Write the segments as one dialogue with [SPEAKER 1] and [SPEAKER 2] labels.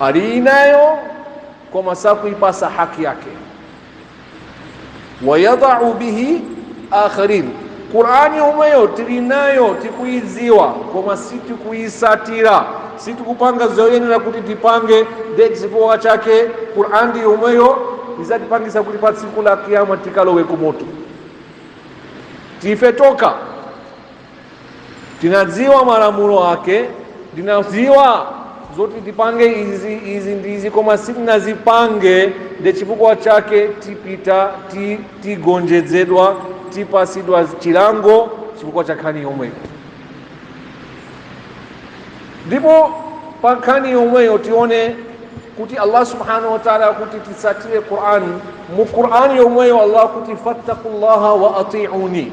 [SPEAKER 1] ali nayo koma sakuipasa haki yake wayadau bihi akharin qurani yomweyo tili nayo tikuidziwa koma sitikuisatira sitikupanga zoyenera kuti tipange nde chifukwa chake qurani yomweyo izatipangisa kuti pa tsiku la kiyama tikalowe kumoto tife toka tinadziwa malamulo ake ndinadziwa zoti tipange izi izi ndi izi koma sitinazipange nde chifukwa chake tipita ti- tigonjedzedwa tipasidwa chilango chifukwa cha nkhani yomweyo ndipo pa nkhani yomweyo tione kuti allah subhanahu wa taala akuti titsatire qurani mu qurani yomweyo allah akuti fattakullaha wa atiuni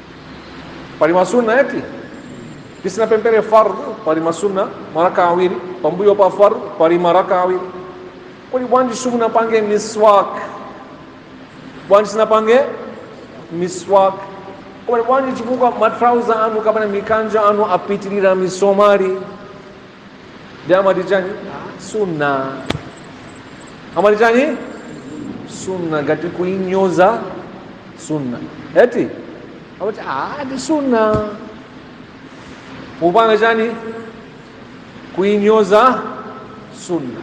[SPEAKER 1] pali masunna eti tisinapemphere fardh pali masunna maraka awiri pambuyo pa fardh pali maraka awiri kodi bwanji simunapange miswak bwanji simunapange miswak kodi bwanji chifukwa matrauza anu kapena mikanjo anu apitirira misomali nde amati chani sunna amati chani sunna ngati kuinyoza sunna eti amati ah ndi sunna kupanga chani kuinyoza sunna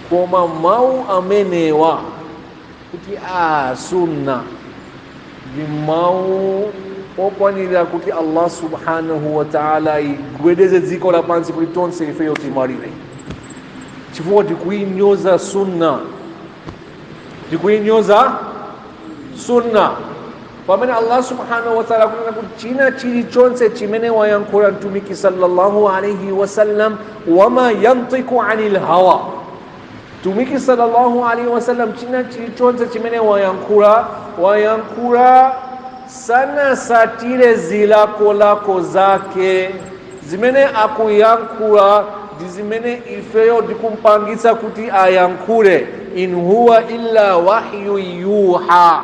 [SPEAKER 1] koma mawu amenewa kuti a sunna ndi mawu okwanira kuti allah subhanahu wa taala agwedeze dziko lapansi kuti tonse ifeyo timwalire chifukwa tikuinyoza sunna tikuinyoza sunna pamene allah subhanahu wa taala akunena kuti china chilichonse chimene wayankhula mtumiki sallallahu alaihi wasallam wama yantiku anil hawa Mtumiki sallallahu alaihi wasallam china chilichonse chimene wayankhula wayankhula sanasatire zilakolako zake zimene akuyankhula ndi zimene ifeyo tikumpangitsa kuti ayankhule in huwa illa wahyu yuha